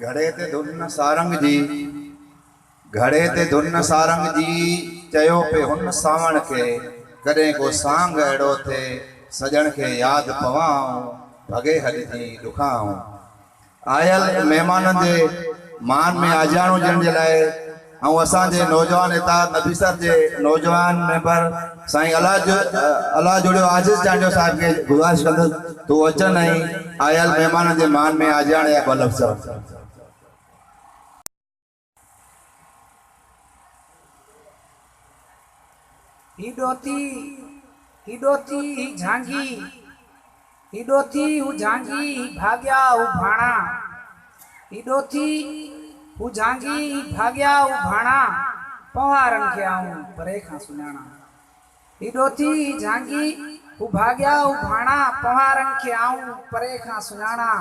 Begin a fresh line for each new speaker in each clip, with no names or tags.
گهڙي تي ڌن سارنگ جي، گهڙي تي ڌن سارنگ جي، چيو پئي هن سانوڻ کي، ڪڏهن ڪو سانگ اهڙو ٿئي، سڄڻ کي ياد پوان آئون، ڀڳي هڏ ٿي ڏکان آئون. آيل مهمانن جي مان ۾ آجياڻو ڏيڻ جي لاء. ۽ اسان جي نوجوان اتحاد نبيسر جي نوجوان ميمبر سائين الله جوڻيو عاجز چانڊيو صاحب کي گذارش ڪندس ته هو اچن ۽ آيل مهمانن جي مان ۾ آجياڻي جا ٻه لفظ چون. هي ڏوهتي، هي ڏوهتي، هي جهانگي،
هي ڏوٿي هو جهانگي هي ڀاڳيا هو ڀاڻا هي ڏوٿي هو جهانگي هي ڀاڳيا هو ڀاڻا پونهارن کي آئون پري کان سڃاڻا هي ڏوٿي هي جهانگي هو ڀاڳيا هو ڀاڻا پونهارن کي آئون پري کان سڃاڻا.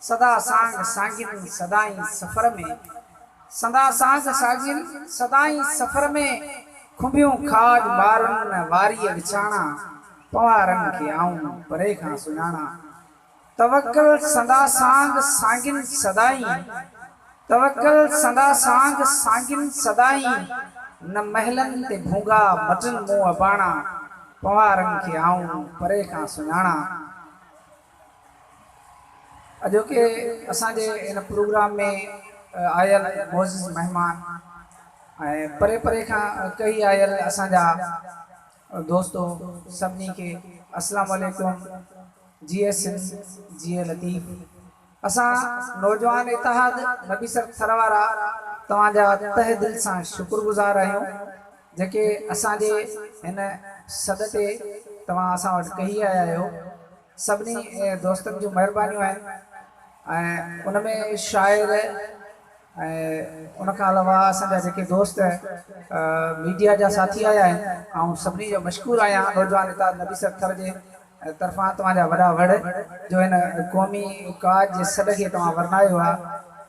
سدا سانگ سانگين سدائين سفر ۾. سدا سانگ سانگين سدائين سفر ۾. کنڀيون کاڄ مارن واريء وچاڻا. پنوارن کي آئون پري کان سڃاڻا. توڪل سدا سانگ سانگين سدائين. توڪل سدا سانگ سانگين سدائين. نه محلن تي ڀونگا مٽن مون اباڻا. پنوارن کي آئون پري کان سڃاڻا. اڄوڪي اسان جي ان پروگرام ۾ آيل معزز مهمان ۽ پري پري کان ڪهي آيل اسان جا دوستو سڀني کي السلام عليڪم جيئي سنڌ جيئي لطيف اسان نوجوان اتحاد نبيسر ٿر وارا توهان جا تهه دل سان شڪر گذار آهيون جيڪي اسان جي هن سڏ تي توهان اسان وٽ ڪهي آيا آهيو، سڀني دوستن جون مهربانيون آهن ۽ ان ۾ شاعر ۽ ان کان علاوه اسان جا جيڪي دوست ميڊيا جا ساٿي آيا آهن، آئون سڀني جو مشڪور آهيان، نوجوان اتحاد نبيسر ٿر جي طرفان توهان جا وڏا وڙ جو هن قومي ڪاڄ جي سڏ کي توهان ورنايو آهي.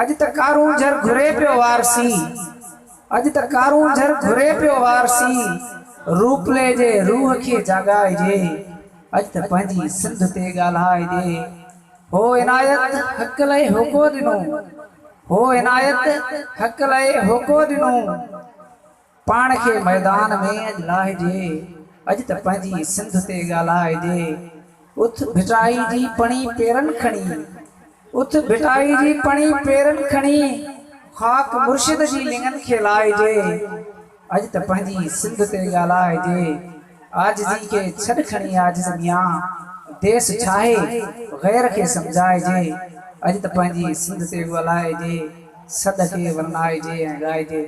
اڄ ته ڪارون جھر گھري پيو وار سي اڄ ته ڪارون جھر گھري پيو وار سي روپلي جي روح کي جاڳائجي اڄ ته پنھنجي سنڌ تي ڳالھائجي ھو عنايت حق لئي ھوڪو ڏنو ھو عنايت حق لئي ھوڪو ڏنو. پاڻ کي ميدان ۾ اڄ لاهجي، اڄ ته پنهنجي سنڌ تي ڳالهائجي. اٿ ڀٽائي جي پڻي پيرن کڻي، اٿ ڀٽائي جي پڻي پيرن کڻي، خاڪ مرشد جي لڱن کي لائجي، اڄ ته پنهنجي سنڌ تي ڳالهائجي. عاجزي کي ڇڏ کڻي عاجز ميان، ديس ڇاهي غير کي سمجهائجي، اڄ ته پنهنجي سنڌ تي ڳالهائجي، سڏ کي ورنائجي ۽ ڳائجي.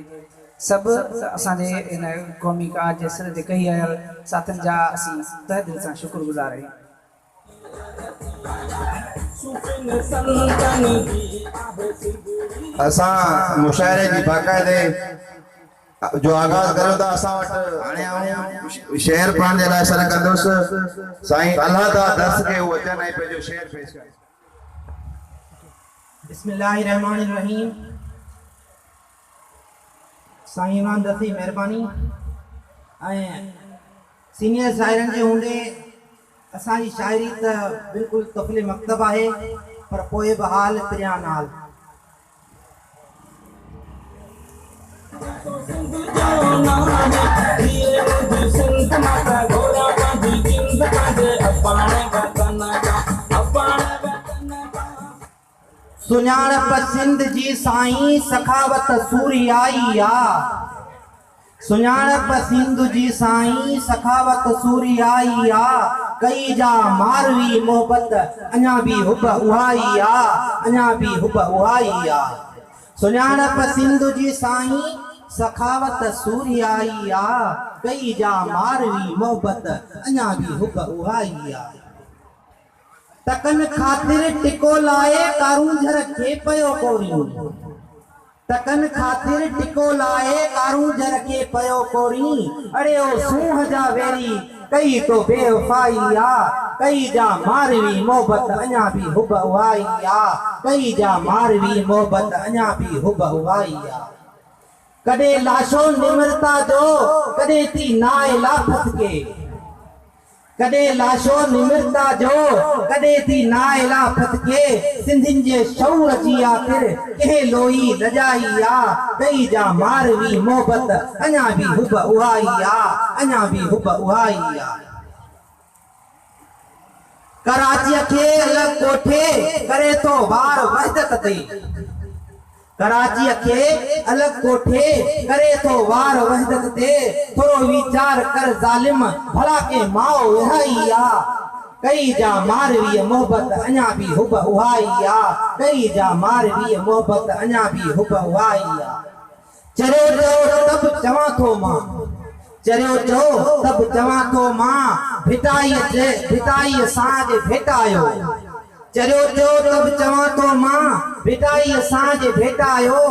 سڀ ته اسان جي هن قومي ڪار جي سر تي ڪهي آيل ساٿين جا اسين تهه دل سان شڪر گذار آهيون.
اسان مشاعري جي باقاعدي جو آغاز ڪريون ٿا اسان وٽ. هاڻي آئون شعر پڙهڻ جي لاء سڏ ڪندس سائين الهه داد درس کي هو اچن ۽ پنهنجو شعر پيش ڪن. بسم
الله الرحمٰن الرحيم سائين عمران دستي مهرباني ۽ سينيئر شاعرن جي هوندي اسان جي شاعري ته بلڪل طفل مڪتب آهي پر پوء به حال پريان نال سڃاڻپ سنڌ جي سائين سخاوت سورهيائي آ. سڃاڻپ سنڌ جي سائين سخاوت سوريائي آ ڪئي جا ماروي محبت اڃا بي حب اهائي آ اڃا بي حب اهائي آ سڃاڻپ سنڌ جي سائين سخاوت سوريائي آ ڪئي جا ماروي محبت اڃا بي حب اهائي آ. ٽڪن خاطر ٽڪو لائي ڪارونجهر کي پيو ڪورين ٽڪن خاطر ٽڪو لائي ڪارونجهر کي پيو ڪورين اڙي او سونهن جا ويري ڪئي تو بي وفائي آ ڪئي جا ماروي محبت اڃا به حب اهائي آ ڪئي جا ماروي محبت اڃا به حب اهائي آ ڪڏهن لاشو نمرتا جو ڪڏهن ٿي نائلا ڦٿڪي. ڪڏهن لاشو نمرتا جو ڪڏهن ٿي نااهلا پت کي سنڌين جي شعور جي آخر ڪنهن لوئي لڄائي آ ڪئي جا ماروي محبت اڃا به حب اها ئي آ اڃا به حب اها ئي آ ڪراچيء کي الڳ ڪوٺي ڪري ٿو بار وحدت تي. ڪراچيء کي الڳ ڪوٺي ڪري ٿو وار وحدت تي ٿورو ويچار ڪر ظالم ڀلا ڪنهن ماء وهائي آ ڪئي جا مارويء محبت اڃا به حب اهائي آ ڪئي جا مارويء محبت اڃا به حب اهائي آ چريو چئو ته به چوان ٿو مان. چريو چئو ته به چوان ٿو مان، ڀٽائيء جي ڀٽائيء سان جي ڀيٽايو. چريو چئو ته به چوان ٿو مان، ڀٽائيء سان جي ڀيٽايو.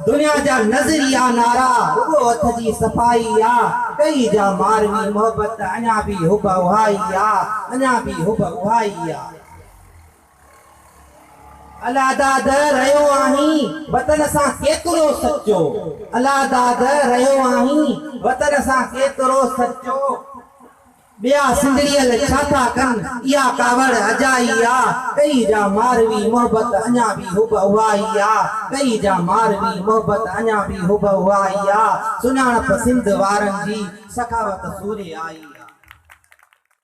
دنيا جا نظريا نعرا رڳو هٿ جي صفائي آ، ڪئي جا ماروي محبت اڃا به حب اهائي آ، اڃا به حب اهائي آ. الا داد رهيو آهين وطن سان ڪيترو سچو الا داد رهيو آهين وطن سان ڪيترو سچو ٻيا سنڌڙيل ڇا ٿا ڪن اها ڪاوڙ اجائي آ ڪئي جا ماروي محبت اڃا به حب اهائي آ ڪئي جا ماروي محبت اڃا به حب اهائي آ سڃاڻپ سنڌ وارن جي سخاوت سوري آئي آ.